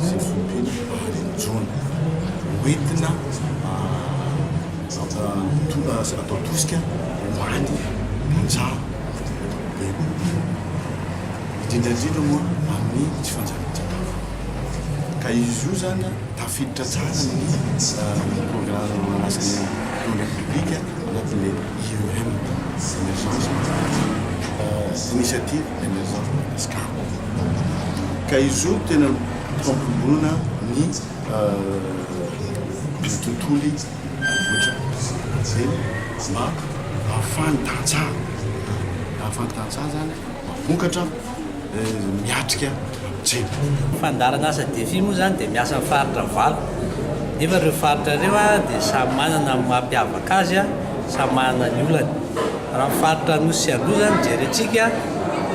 izay vao miteny fiteny intsony. Ho entina atao tosika ho an'ny mpanjary be kokoa, indrindra indrindra moa amin'ny tsy fanjarian-tsakafo. Ka izy io izany tafiditra tsara amin'ny programme asany Président de la République anatin'ilay IEM, Emergence, Initiative. Ka izy io tena mpampionona ny tontolo vohitra Antsirabe mba hahafahan'ny tantsaha, hahafahan'ny tantsaha zany mba vokatra miatrika. Jepony. Ny fandaharana asa Defi moa izany dia miasa amin'ny faritra valo nefa ireo faritra ireo dia samy manana ny maha mpiavaka azy, samy manana ny olany. Raha ny faritra Anosy sy Androy izany no jerentsika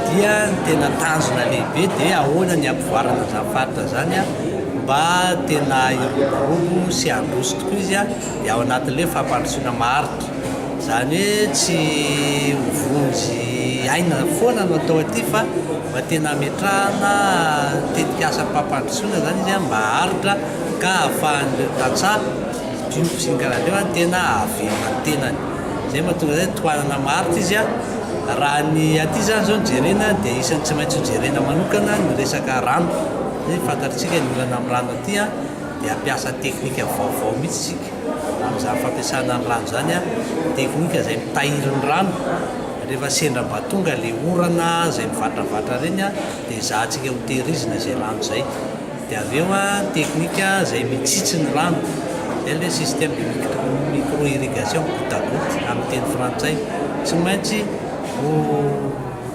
dia ny tena tanjona lehibe dia ahoana ny hampivoarana izany faritra izany mba tena hiroborobo sy handroso tokoa izy dia ao anatin'ilay fampandrosoana maharitra. Izany hoe tsy ho vonjy aina foana no atao aty fa. Mba tena hametrahana tetikasa fampandrosoana izany izy mba haharitra ka hahafahan'ireo tantsaha mijoro sy ny karazan'ireo tena hahavelona ny tenany. Izay no mahatonga izany tohanana maharitra izy. Raha ny aty izany izao no jerena dia isan'ny tsy maintsy hojerena manokana ny resaka rano. Fantatr'isika ny olana amin'ny rano aty dia hampiasa teknika vaovao mihitsy isika. amin'izany fampiasana ny rano izany an, teknika izay mitahiry ny rano rehefa sendra mba tonga ilay orana izay mivatravatra ireny an, dia ezahantsika ho tehirizina izay rano izay, dia avy eo an, teknika izay mitsitsy ny rano, izay ilay système de micro irrigation, goutte à goutte amin'ny teny frantsay, tsy maintsy ho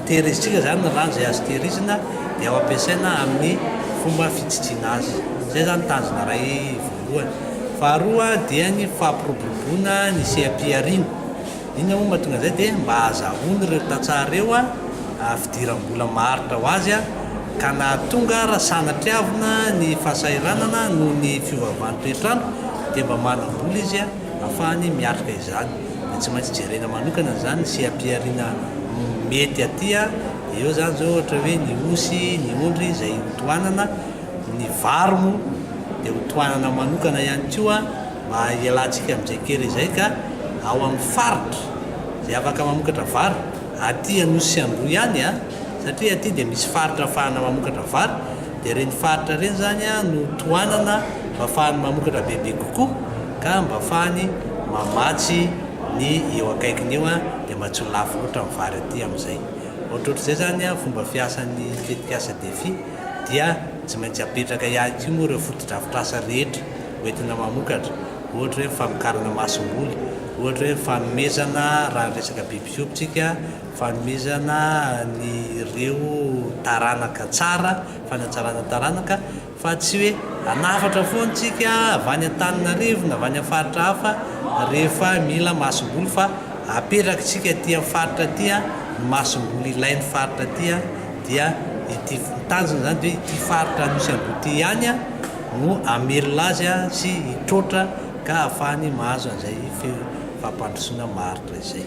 tehirizintsika izany ny rano izay azo tehirizina dia ho ampiasaina amin'ny fomba fitsitsiana azy, izay izany tanjona iray voalohany. voalohany. Faharoa dia ny fampiroboroboana ny seha-pihariana. Inona moa no mahatonga an'izay dia mba hahazahoany ireo tantsaha ireo fidiram-bola maharitra ho azy ka nahatonga raha sanatriavina ny fahasahiranana noho ny fiovaovan'ny toetr'andro dia mba manam-bola izy ahafahany miatrika izany. Dia tsy maintsy jerena manokana izany ny seha-pihariana mety aty eo izany izao ohatra hoe ny osy, ny ondry izay tohanana. Ny vary moa dia ho tohanana manokana ihany koa mba hialantsika amin'izay kere izay ka ao amin'ny faritra izay afaka mamokatra vary, aty Anosy Andoha ihany a, satria aty dia misy faritra ahafahana mamokatra vary, dia ireny faritra ireny izany no tohanana mba ahafahany mamokatra bebe kokoa ka mba ahafahany mamatsy ny eo akaikiny eo dia mba tsy ho lafo loatra ny vary aty amin'izay. Ohatrohatr'izay izany fomba fiasan'ny tetikasa Defi. dia tsy maintsy apetraka ihany koa moa ireo fotodrafitrasa rehetra ho entina mamokatra, ohatra hoe ny famokarana masomboly, ohatra hoe ny fanomezana raha ny resaka biby fiompitsika, fanomezana an'ireo taranaka tsara, fanatsarana taranaka, fa tsy hoe hanafatra foana isika avy any Antananarivo na avy any amin'ny faritra hafa rehefa mila masomboly fa. Aperakintsika aty amin'ny faritra aty ny masomboly ilain'ny faritra aty dia ity, ny tanjona izany dia hoe ity faritra misy an'ireo ity ihany no hamelona azy sy hitroatra ka hahafahany mahazo an'izay fampandrosoana maharitra izay.